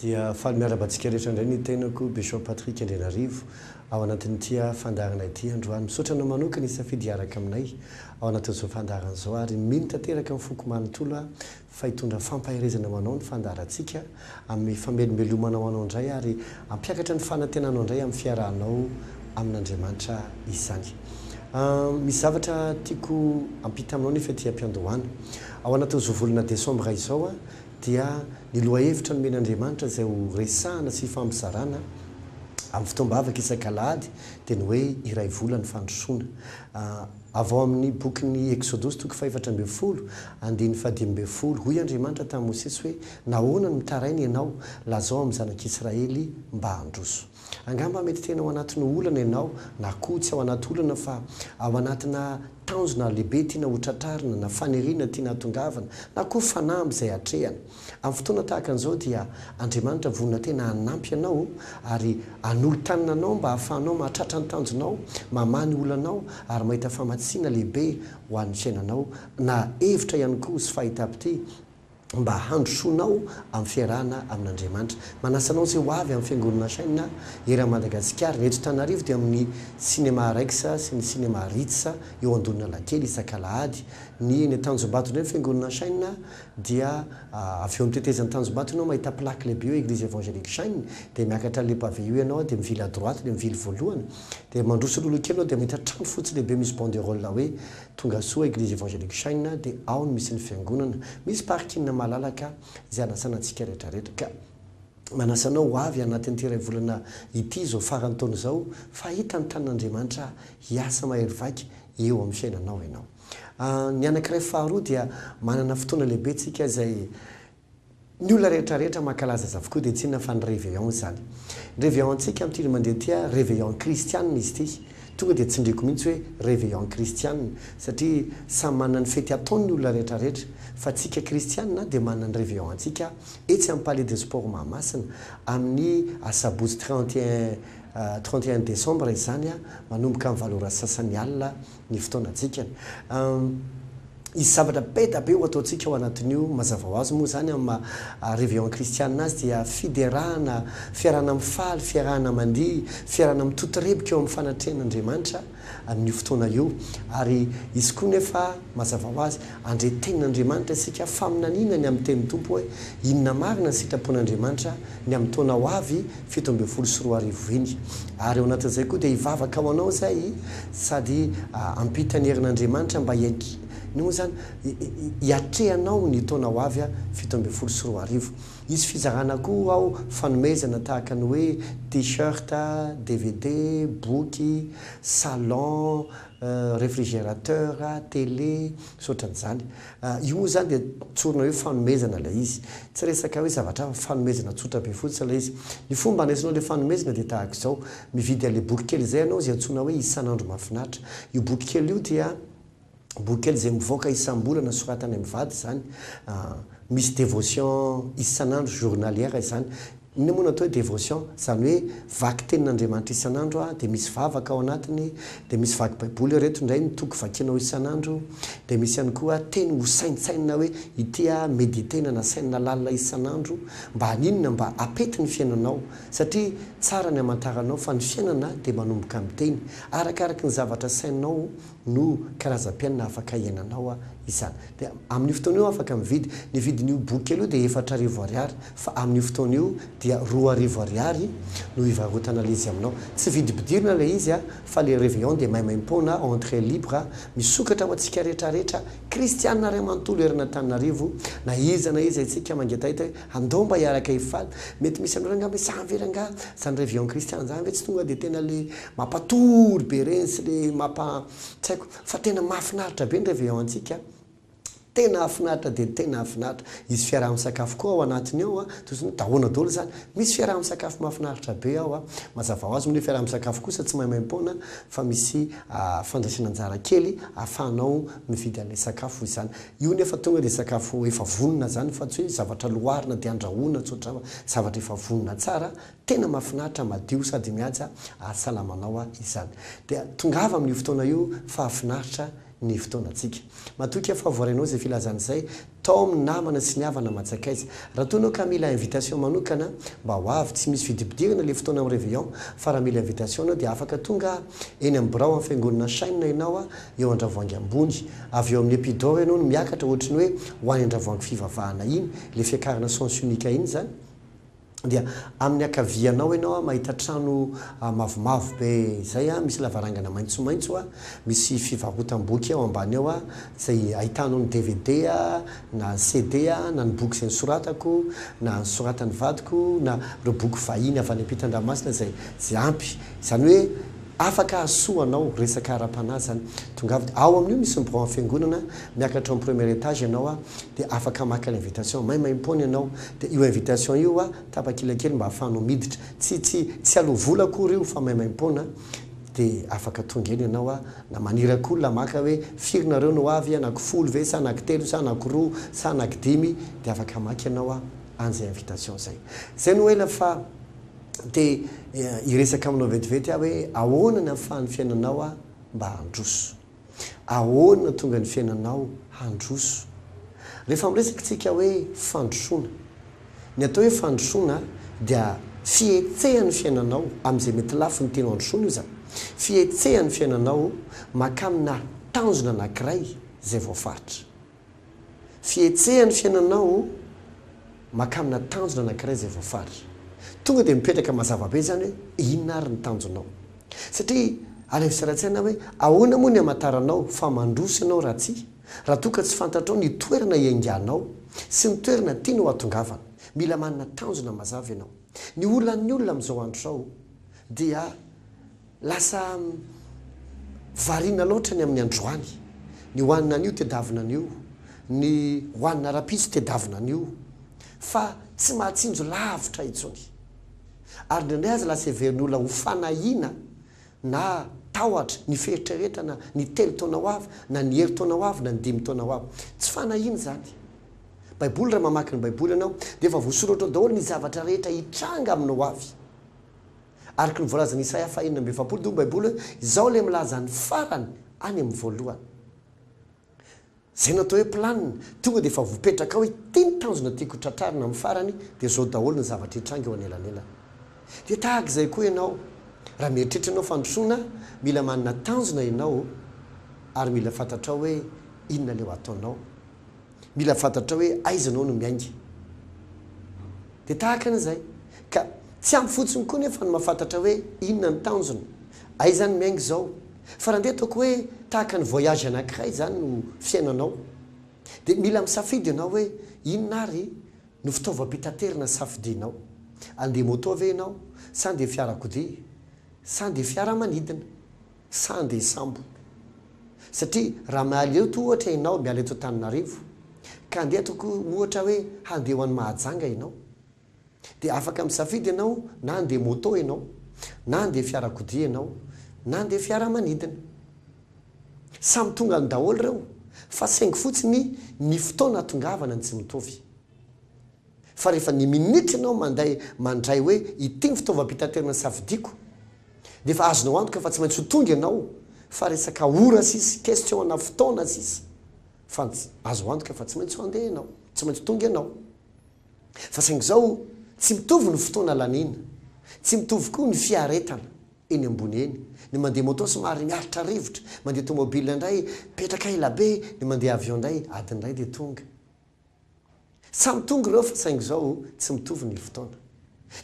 Dia faly miarahaba antsika rehetra indray ny tenako, Bishop Patrick Andrianarivo, ao anatin'ity fandaharana ity androany. Misaotra anao manokana hisafidy hiaraka aminay ao anatin'izao fandaharana izao ary mino tanteraka amin'ny foko manontolo aho fa hitondra fampaherezana ho anao ny fandaharantsika, hanome famelombelomana ho anao indray ary hampiakatra ny fanantenanao indray amin'ny fiarahanao amin'Andriamanitra izany. Misy zavatra tiako hampita aminao nefa ety am-piandohana. Ao anatin'izao volana desambra izao dia ny lohahevitra nomen'Andriamanitra izay ho resahana sy hifampizarana amin'ny fotoam-bavaka isak'alahady dia ny hoe iray vola ny fandrosoana. Avy ao amin' ny Bokin'ny Eksodosy, toko fahefatra ambin'ny folo, andininy fahadimy ambin'ny folo, Hoy Andriamanitra tamin'i Mosesy hoe, Nahoana no mitaraina ianao? Lazao amin'ny Zanak' Israely mba handroso. Angamba mety tena ao anatin'ny olana ianao, na koa tsy ao anaty olana fa ao anatina tanjona lehibe tiana hotratrarina, na faniriana tiana hatongavana, na koa fanamby izay hatrehana. Amin'ny fotoana tahaka an'izao dia Andriamanitra vonona tena hanampy anao ary hanolo-tanana anao mba hahafahanao mahatratra ny tanjonao, mamaha ny olanao ary mahita famatsiana lehibe ho an'ny fiainanao na hevitra ihany koa sy fahita-pitia mba handrosoanao amin'ny fiarahana amin'Andriamanitra. Manasa anao izay ho avy amin'ny Fiangonana Shine eran'i Madagasikara. Ny eto Tanarivo dia amin'ny Cinéma Rex sy ny Cinéma Ritz eo Andohanalakely isak'alahady. Ny eny Tanjombato indray ny Fiangonana Shine. dia avy eo amin'ny tetezan'ny Tanjombato ianao mahita plaque lehibe hoe Eglise Evangelique Shine, dia miakatra an'ilay pavé io ianao dia mivily à droite dia mivily voalohany, dia mandroso loloha kely ianao dia mahita trano fotsy lehibe misy banderole hoe Tongasoa Eglise Evangelique Shine dia ao no misy ny fiangonana, misy parking malalaka izay anasana antsika rehetra rehetra ka manasa anao ho avy anatin'ity iray volana ity izao faran'ny taona izao fa hahita ny tanin'Andriamanitra hiasa mahery vaika eo amin'ny fiainanao ianao. Ny anankiray faharoa dia manana fotoana lehibe tsika izay ny olona rehetra rehetra mankalaza azy avokoa dia tsy inona fa ny réveillon izany. Ny réveillon tsika amin'ity indray mandeha ity ary réveillon kristianina izy ity. Tonga dia tsindriako mihitsy hoe réveillon kristianina satria samy manana ny fety ataony ny olona rehetra rehetra fa tsika kristianina dia manana ny réveillon antsika etsy amin'ny palais de sport Mahamasina amin'ny asabotsy trente et un trente et un décembre izany manomboka amin'ny valo ora sy sasany alina ny fotoanantsika. Hisy zavatra be da be ho ataontsika ao anatin'io. Mazava ho azy moa izany amin'ny maha Réveillon Christiana azy dia fiderana, fiarahana mifaly, fiarahana mandihy, fiarahana mitotorebika eo amin'ny fanatrehan'Andriamanitra amin'io fotoana io. Ary hisy koa nefa, mazava ho azy, Andre tenin'Andriamanitra isika faminaniana ny amin'ny tenin'ny Tompo hoe inona marina ny sitrapon'Andriamanitra ny amin'ny taona ho avy fito ambin'ny folo sy roa arivo iny. Ary ao anatin'izay koa dia hivavaka ho anao izay sady hampita ny herin'Andriamanitra mba hianki, ny moa izany? hiatrehanao ny taona ho avy fito ambin'ny folo sy roa arivo. Hisy fizarana koa ao fanomezana tahaka ny hoe T-shirt, dvd, boky, salon, refrigerateur, télé, sy ohatran'izany. Io moa izany dia tsorina hoe fanomezana ilay izy. Tsy resaka hoe zavatra hafa fa fanomezana tsotra be fotsiny ilay izy. Ny fomba handraisanao ilay fanomezana dia tahaka izao, mividy an'ilay boky kely izay ianao izay antsoina hoe Isan'andro mahafinaritra. Io boky kely io dia boky kely izay mivoaka isam-bolana soratanay mivady izany. Misy devotion isan'andro, journalière, izany. Inona moa no atao hoe devotion? Izany hoe vaky tenin'Andriamanitra isan'andro aho, dia misy vavaka ao anatiny, dia misy vaky baiboly, ireto indray ny toko vakianao isan'andro, dia misy ihany koa teny hosaintsainina hoe ity aho, mediter-na na sainina lalina isan'andro, mba haninona? Mba hapety ny fiainanao, satria tsara ny hamantaranao fa ny fiainana dia manomboka amin'ny teny, arakaraka ny zavatra saininao, no karazam-piainana afaka iainanao izany. Dia amin'io fotoana io afaka mividy. Ny vidin'io boky kely io dia efatra arivo ariary fa amin'io fotoana io dia roa arivo ariary no hivarotan'ilay izy aminao. Tsy vidim-pidirana ilay izy fa ilay Réveillon dia maimaim-poana, entrée libre, misokatra ho antsika rehetra rehetra kristiana iray manontolo eran'Antananarivo na iza na iza isika mangetaheta hoe Andao mba hiaraka hifaly. Mety misy aminareo angamba hoe zany ve rangaha, zany revue en christian zany ve tsy tonga dia tena le mampatory be reny sy le mampa tsy haiko fa tena mahafinaritra be ny revue en antsika a! Tena hafinaritra dia tena hafinaritra. Hisy fiaraha-misakafo koa ao anatiny ao a! Toy izany hoe dahona daholo izany. Misy fiaraha-misakafo mahafinaritra be ao a! Mazava ho azy moa ny hoe fiaraha-misakafo kosa tsy maimaim-poana fa misy fandraisana anjara kely ahafahanao mividy an'ilay sakafo izany. Io nefa tonga dia sakafo efa vonona izany fa tsy hoe zavatra loarina dia andrahoina tsotra fa zavatra efa vonona tsara, tena mahafinaritra, madio sady mihaja ahasalama anao izany. Dia tongava amin'io fotoana io fa finaritra ny fotoanantsika. Matoky aho fa voarainao izay filazana izay tao amin'ny namana sy ny havana aman-tsakaiza. Raha toa ianao ka mila invitation manokana mba ho avy, tsy misy fidipidirana ilay fotoana amin'ny réveillon fa raha mila invitation ianao dia afaka tonga eny amin'ny birao amin'ny fiangonana Shine ianao, eo an-dravoangy ambony, avy eo amin'ny Epidaure ianao no miakatra ohatry ny hoe ho any an-dravoangy fivavahana iny, ilay fiakarana sens unique iny izany, dia amin'ny ankavianao ianao mahita trano mavomavo be izay misy lavarangana maitsomaitso, misy fivarotam-boky ao ambany ao izay ahitanao ny dvd na ny CD na ny boky izay nosoratako na nosoratan'ny vadiko na ireo boky vahiny avy any am-pitan-dranomasina izay ampy, izany hoe. Afaka hahasoa anao, resaka ara-panahy zany. Tongava de ao amin'io misy ny Biraon'ny Fiangonana, miakatra amin'ny premier etage ianao a, de afaka maka ilay invitation, maimaimpoana ianao, de io invitation io a, tapakila kely mba ahafahanao miditra, tsy, tsy, tsy aloa vola akory io fa maimaimpoana, de afaka tonga eny ianao a, na maniraka olona maka hoe firy nareo no ho avy, anaky folo ve sa anaky telo sa anaky roa sa anaky dimy, de afaka maka ianao a, an'izay invitation zay. Zay no ela fa. te hiresaka aminao vetivety aho hoe ahoana ny ahafahan'ny fiainanao aho mba handroso. Ahoana no tonga ny fiainanao handroso. Rehefa miresaka isika hoe fandrosoana, ny atao hoe fandrosoana dia fihetsehan'ny fiainanao amin'izay mety lafiny tianao handrosoana io za. Fihetsehan'ny fiainanao makàmina tanjona anankiray izay voafaritra. Fihetseha ny fiainanao maka amina tanjona anankiray izay voafara. Tonga dia mipetraka mazava be izany hoe inona ary ny tanjonao. Satria alefa sy ara-tsaina hoe ahoana moa ny hamantaranao fa mandroso ianao raha tsy raha toa ka tsy fantatrao ny toerana ianganao sy ny toerana tianao hatongavana. Mila manana tanjona mazava ianao. Ny olan'ny olona amin'izao andro izao dia. Lasa variana loatra ny amin'ny androany, ny ho an'ny anio tedavina anio, ny ho an'ny rahampitso tedavina anio, fa tsy mahatsinjo lavitra intsony. Ary indraindray aza lasa heverin'ny olona ho fanahiana na tahotra ny fieritreretana ny telo taona ho avy, na ny herintaona ho avy, na ny dimy taona ho avy. Tsy fanahiana izany. Baiboly, raha mamaky ny Baiboly ianao, dia efa voasoratra ao daholo ny zavatra rehetra hitranga amin'ny ho avy. Araka ny voalazan'i Isaia faha enina amby efapolo teo ny Baiboly hoe, Izaho ilay milaza ny farany any amin'ny voalohany. Izay natao hoe planina, tonga dia efa voapetraka ao hoe ity ny tanjona tiako ho tratrarina amin'ny farany, dia izao daholo ny zavatra hitranga eo anelanelany. Dia tahaka izay koa ianao, raha mieritreritra ianao fandrosoana, mila manana tanjona ianao ary mila fantatrao hoe inona ilay ho ataonao. Mila fantatrao hoe aiza anao no miainga. Dia tahaka an'izay. Ka tsy ampy fotsiny koa nefa ny mahafantatra hoe inona ny tanjona. Aiza aho no miainga izao. Fa raha ndeha ataoko hoe tahaka ny voyage anankiray izany no fiainanao. Dia mila misafidy ianao hoe inona ary no fitaovam-pitaterana safidianao. Andeha moto ve ianao sa andeha fiarakodia sa andeha fiaramanidina. Sa andeha hisambo? Satria raha mialeo toa ohatra ianao miala eto Antananarivo ka andeha atoko ohatra hoe handeha ho any Mahajanga ianao dia afaka misafidy ianao na andeha moto ianao na andeha fiarakodia ianao na andeha fiaramanidina. Samy tonga any daholo ireo fa saingy fotsiny ny fotoana atongavana no tsy mitovy. Fa rehefa ny minitra ianao manday mandray hoe ity ny fitaovam-pitaterana safidiako dia efa azonao antoka fa tsy maintsy ho tonga ianao fa resaka ora sisa, question ana fotoana sisa fa azo antoka fa tsy maintsy handeha ianao, tsy maintsy tonga ianao. Fa saingy izao tsy mitovy ny fotoana laniana, tsy mitovy koa ny fiaretana eny ambony eny, ny mandeha moto somary miaritra rivotra, mandeha tomobile indray mipetraka elabe, ny mandeha avion indray adiny iray dia tonga. Samy tonga ireo fa saingy izao tsy mitovy ny fotoana.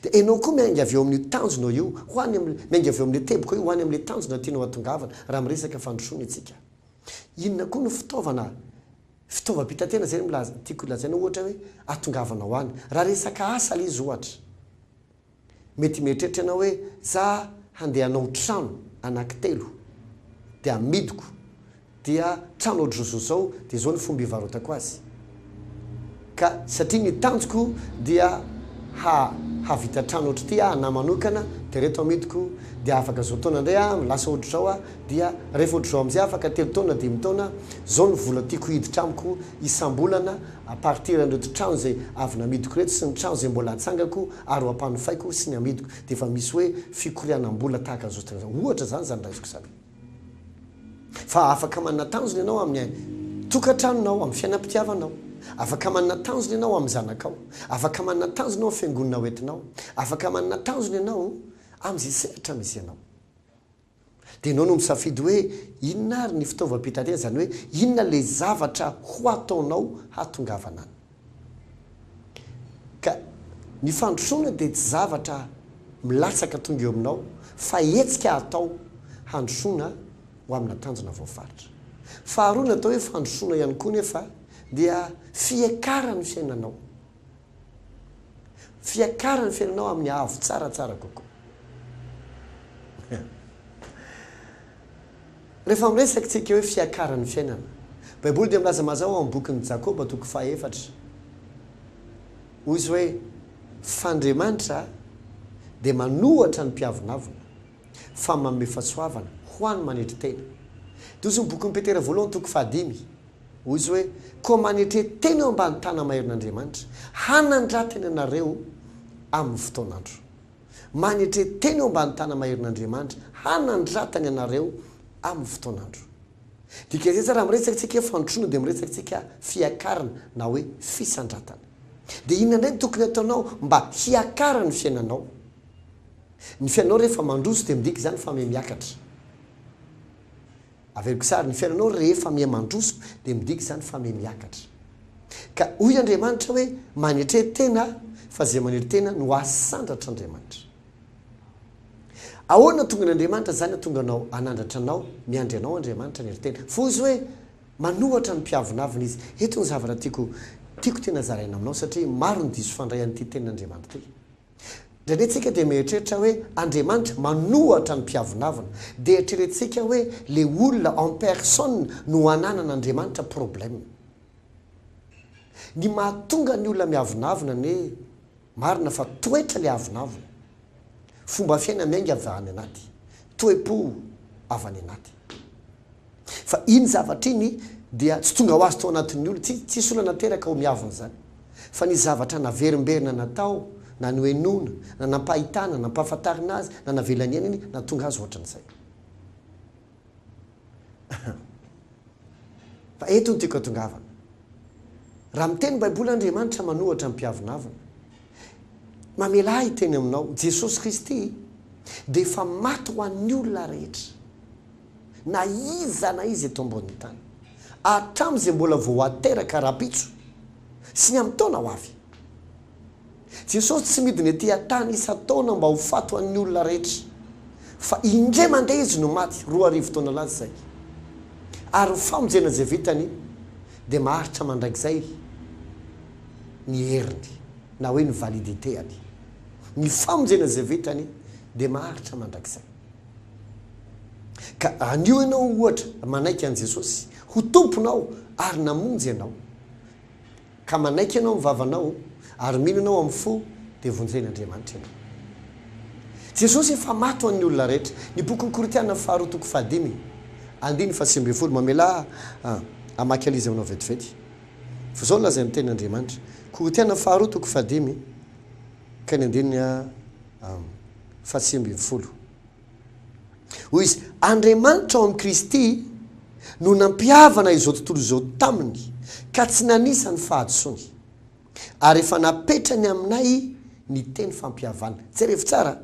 Dia ianao koa miainga avy eo amin'io tanjonao io ho any amin'ilay, miainga avy eo amin'ilay teboka io ho any amin'ilay tanjona tianao hahatongavana raha miresaka fandrosoana isika. Inona koa no fitaovana, fitaovam-pitaterana izay no milaza, tiako lazaina ohatra hoe hahatongavanao any. Raha resaka asa ilay izy ohatra. Mety mieritreritra ianao hoe, 'Za handeha hanao trano anankitelo, dia hamidiko, dia trano ohatr'izao izao izao, dia izao ny fomba hivarotako azy. Ka satria ny tanjoko dia hahavita trano ohatr'ity aho anà manokana, dia ireto hamidiko, dia afaka izao taona indray aho, lasa ohatr'izao aho, dia rehefa ohatr'izao amin'izay afaka telo taona, dimy taona, izao ny vola tiako hiditra amiko isam-bolana, à partir an'ireto trano izay avy namidiko ireto sy ny trano izay mbola hatsangako ary ho ampanofaiko sy ny hamidiko dia efa misy hoe fikorianam-bola tahaka an'izao fotoana izao ohatra izany izany raisiko izany fa afaka manana tanjona ianao amin'ny tokantranonao amin'ny fiainam-pitiavanao afaka manana tanjona ianao amin'ny zanakao afaka manana tanjona ao amin'ny fiangonana hoentinao afaka manana tanjona ianao amin'izay sehatra misy ianao Dia ianao no misafidy hoe inona ary ny fitaovam-pitaterana, izany hoe inona ilay zavatra ho ataonao hahatongavana any. Ka ny fandrosoana dia tsy zavatra milatsaka tonga eo aminao fa hetsika atao handrosoana ho amina tanjona voafaritra. Faharoa ny atao hoe fandrosoana ihany koa nefa dia fiakaran'ny fiainanao. Fiakara ny fiainanao amin'ny haavo tsara tsara kokoa. Rehefa miresaka tsika hoe fiakara ny fiainana, baiboly dia milaza mazava ao amin'ny bokin'ny Jakoba toko faha efatra, hoy izy hoe, f'Andriamanitra dia manohatra ny mpiavonavona, fa manome fahasoavana ho any manetry tena. Dia hoy izy ny bokin'i Petera voalohany toko faha dimy. Hoy izy hoe, Koa manetre tena eo ambany tana maherin'Andriamanitra, hanandratany anareo amin'ny fotoan'andro. Manetre tena eo ambany tana maherin'Andriamanitra, hanandratany anareo amin'ny fotoan'andro. Dika izay tsara, raha miresaka isika hoe fandrosoana dia miresaka isika fiakarana na hoe fisandratana. Dia inona indray no tokony hataonao mba hiakara ny fiainanao? Ny fiainanao rehefa mandroso dia midika izany fa mihamiakatra. Averiko sary ny fiainanao rehefa miha mandroso dia midika izany fa miha miakatra. Ka hoy Andriamanitra hoe manetre tena fa izay manery tena no asandratra Andriamanitra. Ahoana tongan Andriamanitra izany atonga anao anandratra anao miandry anao Andriamanitra hanery tena? Fa hozy hoe manohatra ny mpiavonavona izy. Eto ny zavatra tiako tiako tena zaraina aminao satria maro ny diso fandray an'ity tenin'Andriamanitra ity. Indraindray tsika dia mieritreritra hoe Andriamanitra manohatra ny mpiavonavona. Dia eritreretintsika hoe le olona en personne no ananan Andriamanitra problème. Ny mahatonga ny olona miavonavona anie marina fa toetra le avonavona. Fomba fiaina miainga avy any anaty. Toe-po avy any anaty. Fa iny zavatra iny dia tsy tonga ho azy tao anatin'ny olona, tsy, tsisy olona nateraka ho miavona izany. Fa ny zavatra naverimberina natao, na nohenoina, na nampahitana, nampahafantarina azy, na navela niaina iny, nahatonga azy hoatran'izay. Fa eto no tiako hatongavana. Raha miteny Baiboly Andriamanitra manohatra ny mpiavonavona, mamelà hiteny aminao, Jesosy Kristy dia efa maty ho an'ny olona rehetra. na iza na iza eto ambonin'ny tany, hatramin'izay mbola vao hateraka rahampitso sy ny amin'ny taona ho avy. Jesosy tsy midina ety an-tany isan-taona mba ho faty ho an'ny olona rehetra, fa indray mandeha Izy no maty, roa arivo taona lasa izay. Ary ny famonjena izay vitany dia maharitra mandrakizay ny heriny, na hoe ny validité-any. Ny famonjena izay vitany dia maharitra mandrakizay. Ka anio ianao, ohatra, manaiky an'i Jesosy ho Tomponao ary namonjy anao, ka manaiky ianao amin'ny vavanao ary mino anao amin'ny fo, dia vonjen'Andriamanitra ianao. Jesosy efa maty ho an'ny olona rehetra. Ny bokin'ny Korintiana faharoa toko fahadimy andininy fahasivy ambin'ny folo mamelà hamaky an'izy aminao vetivety. Fa izao no lazain'ny tenin'Andriamanitra, Korintiana faharoa toko fahadimy ka ny andininy fahasivy ambin'ny folo. Hoy izy, Andriamanitra ao amin'i Kristy no nampihavana izao tontolo izao taminy ka tsy nanisa ny fahadisoany, ary efa napetrany aminay ny teny fampihavana. Jerevo tsara,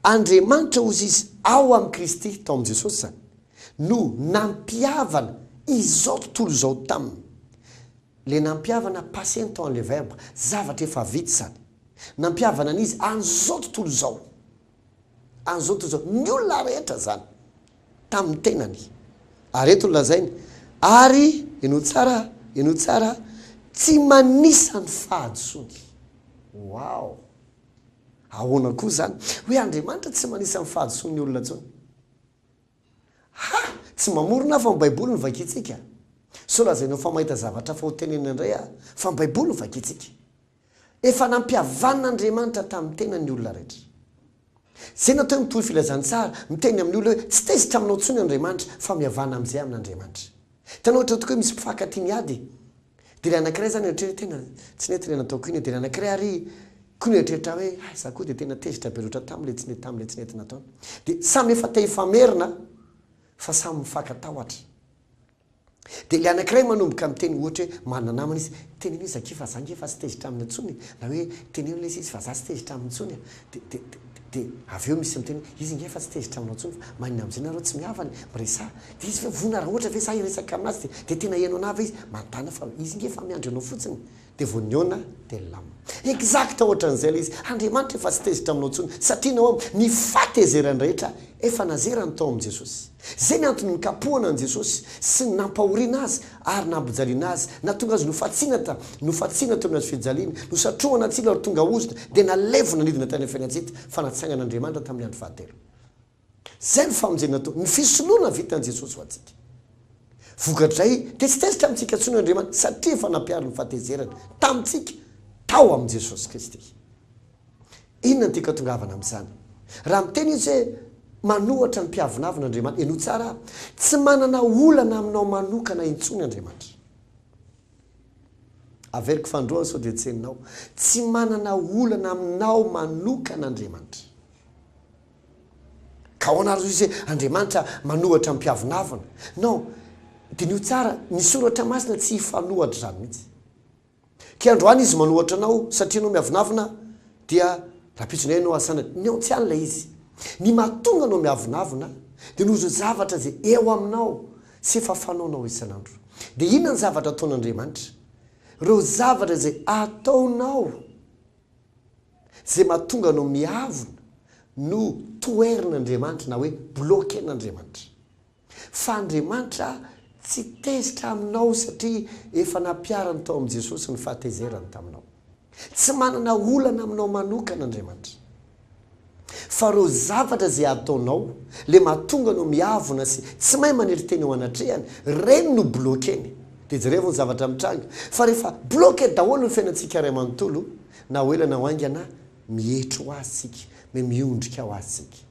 Andriamanitra, hozy izy, ao amin'i Kristy, tao amin'i Jesosy izany, no nampihavana izao tontolo izao taminy. Ilay nampihavana, passé ny temps, ilay verbe, zavatra efa vita izany. Nampihavana ny izy an'izao tontolo izao, an'izao tontolo izao, ny olona rehetra izany, tamin'ny tenany. Ary eto no lazainy, Ary, henoy tsara, henoy tsara, tsy manisa ny fahadisoany. Wow! Ahoana koa izany? Hoe Andriamanitra tsy manisa ny fahadisoan'ny olona intsony? Ha! Tsy mamorona aho fa ny Baiboly no vakintsika. Sao lazainao fa mahita zavatra hafa hotenenina indray aho, fa ny Baiboly no vakintsika. Efa nampihavan' Andriamanitra tamin'ny tenany ny olona rehetra. Tsy izay natao hoe mitory filazantsara, miteny amin'ny olona hoe tsy tezitra aminao intsony Andriamanitra fa mihavana amin'izay amin' Andriamanitra. Hitanao ohatra tokoa hoe misy mpifankatia miady e! Dia ilay anankiray izany mieritreritra hoe tena tsy nety ilay nataoko iny e! Dia ilay anankiray ary koa mieritreritra hoe hay za koa dia tena tezitra be loatra tamin'ilay tsy nety tamin'ilay tsy nety nataony. Dia samy efa te hifamerina fa samy mifankatahotra. Dia ilay anankiray manomboka miteny ohatra hoe marina namana izy, teneno hoe Zaky fa za nge efa tsy tezitra aminy intsony e! na hoe teneno lesy izy fa za tsy tezitra aminy intsony a! dia dia dia dia avy eo misy miteny hoe izy nge efa tsy tezitra aminao intsony fa maninona amin'izay nareo tsy mihavana e! miresaha dia izy ve vonona raha ohatra ve za hiresaka aminazy dia dia tena henonao ve izy? mandàna fa izy nge efa miandry anao fotsiny! Dia vao nihaona dia nilamina. Exact ohatran'izay ilay izy. Andriamanitra efa tsy tezitra aminao intsony satria ny ao am, ny fahatezerany rehetra efa nazerany tao amin'i Jesosy. Izay ny antony nikapohana an'i Jesosy sy ny nampahoriana Azy ary nampijaliana Azy, natonga Azy nofatsiana ta, nofatsiana teo anaty fijaliana, nosatrohana atsilo ary tonga ozona dia nalevina nidina tany am fiainantsika, fa natsangan'Andriamanitra tamin'ny andro fahatelo. Izay no famonjena toa ny fisoloana vitan'i Jesosy ho antsika. Vokatrizay dia tsy tezitra amintsika intsony Andriamanitra satria efa nampiaro ny fahatezerany tamintsika tao amin'i Jesosy Kristy. Inona no tianka atongavana amin'izany? Raha miteny izy hoe manohatra ny mpiavonavona Andriamanitra, henoy tsara aho, tsy manana olana aminao manokana intsony Andriamanitra. Averiko fandroana sao dia tsy henonao. Tsy manana olana aminao manokana Andriamanitra. Ka ahoana ary hozy Andriamanitra manohatra ny mpiavonavona? Non, diniho tsara, ny soratra masina tsy hifanohatra izany mihitsy. Ke androany izy manohatra anao satria enao miavonavona dia rampitso indray enao asanany. Ny ao tsy any ilay izy. Ny mahatonga anao miavonavona dia noho izao zavatra izay eo aminao sy efa fanaonao isan'andro. Dia inona ny zavatra ataon'Andriamanitra? Ireo zavatra izay ataonao. Izay mahatonga anao miavona no toherin'Andriamanitra na hoe bloquen'Andriamanitra. Fa Andriamanitra tsy tezitra aminao satria efa nampiharany tao amin'i Jesosy ny fahatezerany taminao. Tsy manana olana aminao manokana Andriamanitra. Fa ireo zavatra izay ataonao, ilay mahatonga anao miavona sy tsy mahay manely teny eo anatrehany, ireny no bloqueny. Dia jereo ny zavatra mitranga. Fa rehefa bloque daholo ny fiainantsika iray manontolo Na ho ela na ho haingana, mietry ho Azy isika, me miondrika ho Azy isika.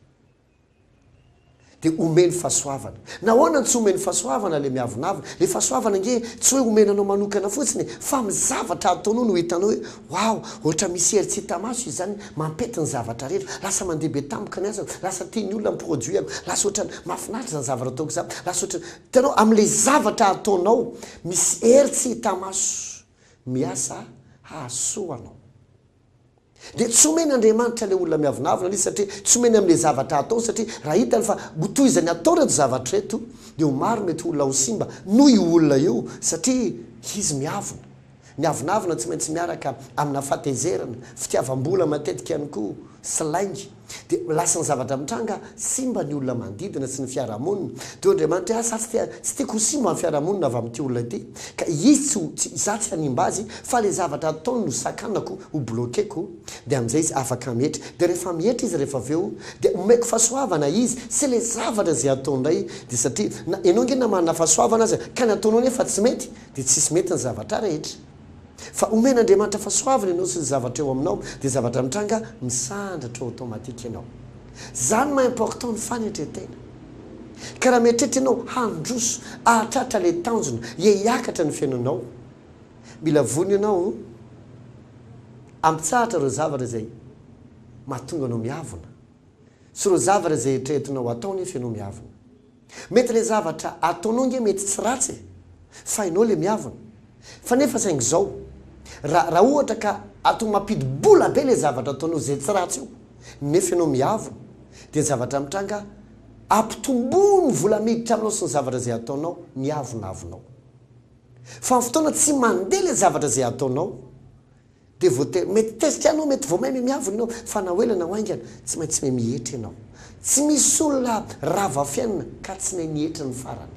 Dia omeny fahasoavana. Nahoana no tsy omeny fahasoavana ilay miavonavona? Ilay fahasoavana ange tsy hoe omena anao manokana fotsiny e, fa amin'ny zavatra ataonao no hitanao hoe, Waouh! Ohatra misy hery tsy hita maso izy izany, mampety ny zavatra rehetra. Lasa mandeha be tampoka ny asako, lasa tian'ny olona ny produit-ko, lasa ohatran'ny mahafinaritra izany zavatra ataoko izany, lasa ohatran'ny. Hitanao, amin'ilay zavatra ataonao, misy hery tsy hita maso Miasa hahazo soa anao. Dia tsy omeny Andriamanitra ilay olona miavonavona ilay izy satria tsy omeny amin'ilay zavatra ataony satria raha hitany fa ho toy izay ny atao ireto zavatra ireto dia ho maro mety olona ho simba noho io olona io satria izy miavona. Ny avonavona tsy maintsy miaraka amina fahatezerana, fitiavam-bola matetika ihany koa sy lainga. Dia lasa ny zavatra mitranga, simba ny olona manodidina sy ny fiarahamonina. Teo Andriamanitra hoe, Izaho tsy tiako ho simba ny fiarahamonina avy amin'ity olona ity, ka izy tsy ho, izaho tsy hanimba azy, fa ilay zavatra ataony no sakanako, ho bloquer-ko. Dia amin'izay izy afaka mietra. Dia rehefa mietra izy rehefa avy eo, dia omeko fahasoavana izy, sy ilay zavatra izay ataony indray. Dia satria, na ianao ange na manana fahasoavana aza, ka ny ataonao nefa tsy mety, dia tsy hisy mety ny zavatra rehetra. Fa omen'Andriamanitra fahasoavana ianao sy ny zavatra eo aminao dia zavatra mitranga misandratra ho automatique ianao. Zany maha important ny fanetretena. Ka raha mieritreritra ianao handroso ahatratra ilay tanjona ia hiakatra ny fiainanao mila vonona ianao ampitsahatra ireo zavatra izay mahatonga anao miavona sy ireo zavatra izay eritreretinao atao nefa ianao miavona. Mety le zavatra ataonao nge mety tsy ratsy e fa enao le miavona fa nefa saingy zao ra ra ohatra ka ato mapidi bola be le zavatra ataonao ze tsy ratsy io nefa enao miavona de zavatra mitranga apitomboiny vola miditra aminao sy ny zavatra ze ataonao ny avonavonao fa ny fotoana tsy mande le zavatra ze ataonao Dia voatery, mety tezitra ianao, mety vao maime miavona ianao, fa na ho ela na ho haingana, tsy maintsy miha mihetra ianao. Tsy misy olona rava fiainana ka tsy nahay nihetra ny farany.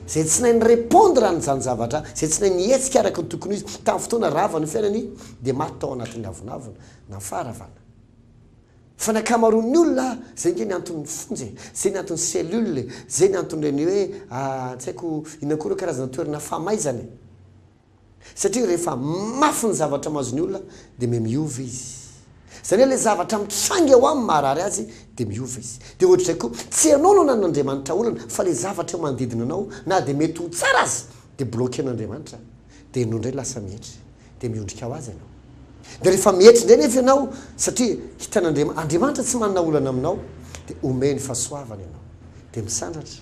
Izay tsy nahay ni-repondre an'izany zavatra, izay tsy nahay nihetsika araka ny tokony ho izy tamin'ny fotoana rava ny fiainany, dia maty tao anatin'ny avonavona, na faharavana. Fa ny ankamaroan'ny olona, izay ange ny anton'ny fonja e, izay ny anton'ny cellule e, izay ny anton'ireny hoe, ah, tsy haiko inona koa ireo karazana toerana famaizana e. Satria rehefa mafy ny zavatra mahazo ny olona dia me miova izy. Izany hoe ilay zavatra mitranga eo aminy maharary azy dia miova izy. Dia ohatr'izay koa, tsy ianao no ananan'Andriamanitra olana fa ilay zavatra eo manodidina anao na dia mety ho tsara aza dia bloquen'Andriamanitra dia ianao indray lasa mietry dia miondrika ho azy ianao. Dia rehefa mietry indray nefa ianao satria hitan'Andriamanitra Andriamanitra tsy manana olana aminao dia omeny fahasoavana ianao dia misandratra.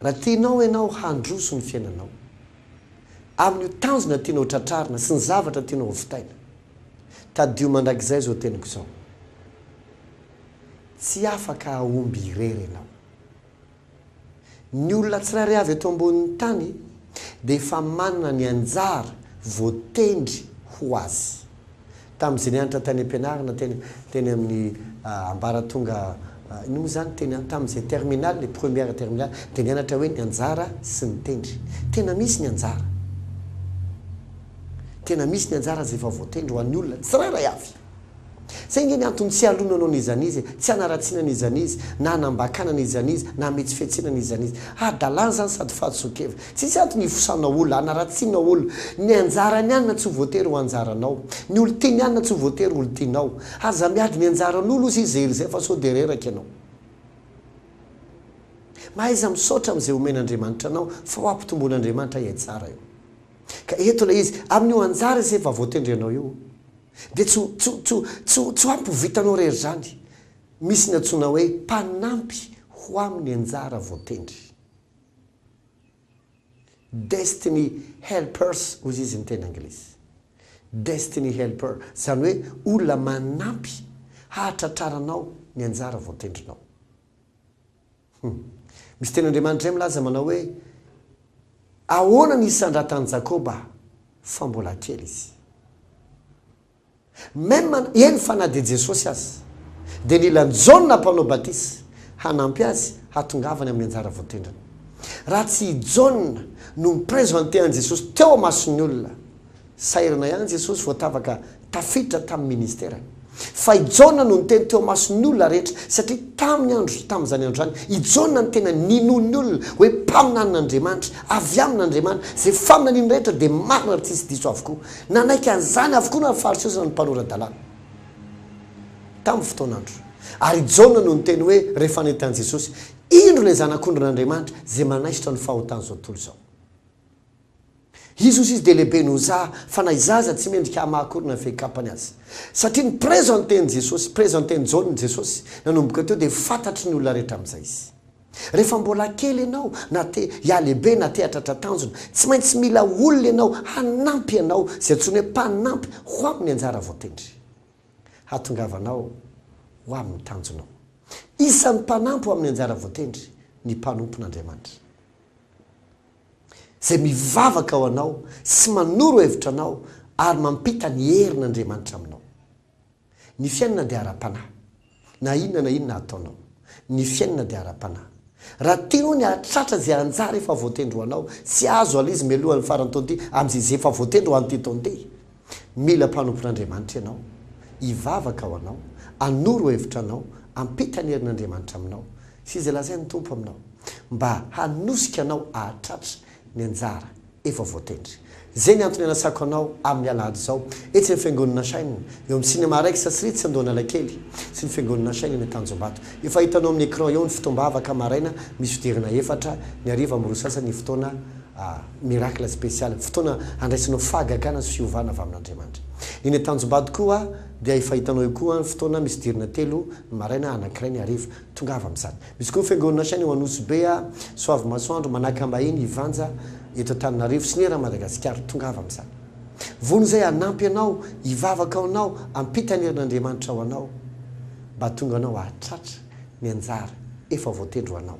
Raha tianao ianao handroso ny fiainanao, amin'io tanjona tianao tratrarina sy ny zavatra tianao hovitaina, tadidio mandrakizay izao teniko izao, Tsy afaka hahomby irery ianao. Ny olona tsirairay avy eto ambonin'ny tany dia efa manana ny anjara voatendry ho azy. Tamin'izay nianatra tany am-pianarana teny teny amin'ny ambaratonga inona moa izany teny tamin'izay terminale, première terminale dia nianatra hoe ny anjara sy ny tendry. Tena misy ny anjara. Tena misy ny anjara izay efa voatendry ho an'ny olona tsirairay avy. Izay ange ny antony tsy ialonana ao an'izany izy e, tsy hanaratsiana an'izany izy, na hanambakana an'izany izy, na hametsi-fihetsehana an'izany izy. Hadalana izany sady fahadisoan-kevitra. Tsisy antony hifosana ol, hanaratsiana ol, ny anjarany anina tsy ho voatery ho anjaranao, ny ol tiany anina tsy ho voatery ho ol tianao, aza miady ny anjaran ol ozy izy erizay fa sao dia reraka ianao. Mahaiza misaotra am zay omen Andriamanitra anao fa ho ampitombon Andriamanitra iay tsara eo. Ka eto ilay izy, amin io anjara izay vavotendry anao io dia tsy ho tsy tsy tsy tsy ho ampy ho vitanao rery izany, misy ny antsoina hoe mpanampy ho amin ny anjara voatendry. Destiny helpers ozy izy ny teny anglisy. Destiny helper, izany hoe olona manampy hahatratraranao ny anjara voatendrinao. Humm. Misy teny Andriamanitra izay milaza manao hoe, Ahoana ny isandratan'i Jakoba, fa mbola kely izy. Même eny fa na dia Jesosy aza dia nila an'i Jaona mpanao batisa hanampy azy hatongavany amin'ny anjara voatendrany. Raha tsy i Jaona no mi-presenter an'i Jesosy teo amason'ny olona, sahirana ihany Jesosy vao tavaka tafiditra tamin'ny ministerany. Fa i Jaona no niteny teo amason'ny olona rehetra satria tamin'ny andro tamin'izany andro izany i Jaona no tena ninoan'ny olona hoe mpaminanin'Andriamanitra avy amin'Andriamanitra, izay faminaniany rehetra dia marina ary tsisy diso avokoa. Nanaiky an'izany avokoa na ny Fariseo sy na ny mpanora-dalàna tamin'ny fotoan'andro. Ary i Jaona no niteny hoe, rehefa nety an'i Jesosy, Indro ilay Zanak'ondrin'Andriamanitra izay manaisotra ny fahotan'izao tontolo izao. Izy hozy izy dia lehibe noho za, fa na iza aza tsy mendrika hamaha akory na ny fehikapany aza. Satria ni-presenten'i Jesosy, presenten'i Jaona i Jesosy, nanomboka teo dia fantatry ny olona rehetra amin'izay izy. Rehefa mbola kely ianao, na te hihalehibe na te hahatratra tanjona, tsy maintsy mila olona ianao hanampy anao, izay antsoina hoe mpanampy ho amin'ny anjara voatendry hahatongavanao ho amin'ny tanjonao. Isan'ny mpanampy ho amin'ny anjara voatendry ny mpanompon'Andriamanitra, izay mivavaka ho anao sy manoro hevitra anao ary mampita ny herin'Andriamanitra aminao. Ny fiainana dia ara-panahy. Na inona na inona ataonao. Ny fiainana dia ara-panahy. Raha tianao ny hahatratra izay anjara efa voatendry ho anao, tsy azo aloha izy mialoha ny faran'ny taona ity, amin'izay izay efa voatendry ho an'ity taona ity. Mila mpanompon'Andriamanitra ianao. Hivavaka ho anao. Hanoro hevitra anao. Hampita ny herin'Andriamanitra aminao. Sy izay lazain'ny Tompo aminao. Mba hanosika anao hahatratra ny anjara efa voatendry. Izay ny antony anasako anao amin'ny alahady izao, etsy amin'ny Fiangonana Nashine, eo amin'ny Cinema Rex Srites Andohanalakely, sy ny Fiangonana Nashine eny Antanjombato. Efa hitanao amin'ny écran eo ny fotoam-bavaka maraina misy fidirana efatra, ny hariva amin'ny roa sasany ny fotoana Miracle Special, fotoana handraisanao fahagagana sy fiovana avy amin'Andriamanitra. Eny Antanjombato koa dia efa hitanao eo koa ny fotoana misy dirana telo ny maraina, anankiray ny hariva. Tongava amin'izany. Misy koa ny fiangonana hatrany ao Anosy Be, Soavimasoandro, Manakambahiny, Ivanja eto Antananarivo sy ny eran'i Madagasikara. Tongava amin'izany. Vono izay hanampy anao hivavaka ho anao hampita ny herin'Andriamanitra ho anao mba hahatonga anao hahatratra ny anjara efa voatendry ho anao.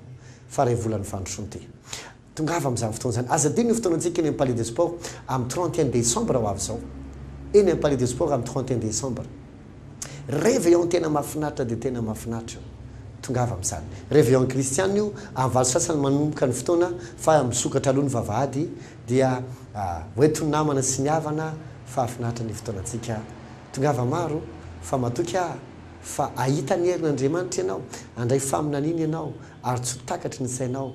Faha iray volan'ny fandrosoan-te. Tongava amin'izany fotoana izany. Aza adino io fotoana antsika eny amin'ny Palais des Sports amin'ny trente et un décembre ho avy izao. Eny amin'ny Palais des Sports amin'ny trente et un décembre. Réveillon tena mahafinaritra dia tena mahafinaritra io. Tongava amin'izany. Réveillon kristiana io, amin'ny valo sy sasany manomboka ny fotoana fa misokatra aloha ny vavahady dia ho entin'ny namana sy ny havana fa hahafinaritra ny fotoanantsika. Tongava maro fa matoky aho fa hahita ny herin'Andriamanitra ianao, handray faminaniana ianao ary tsy ho takatry ny sainao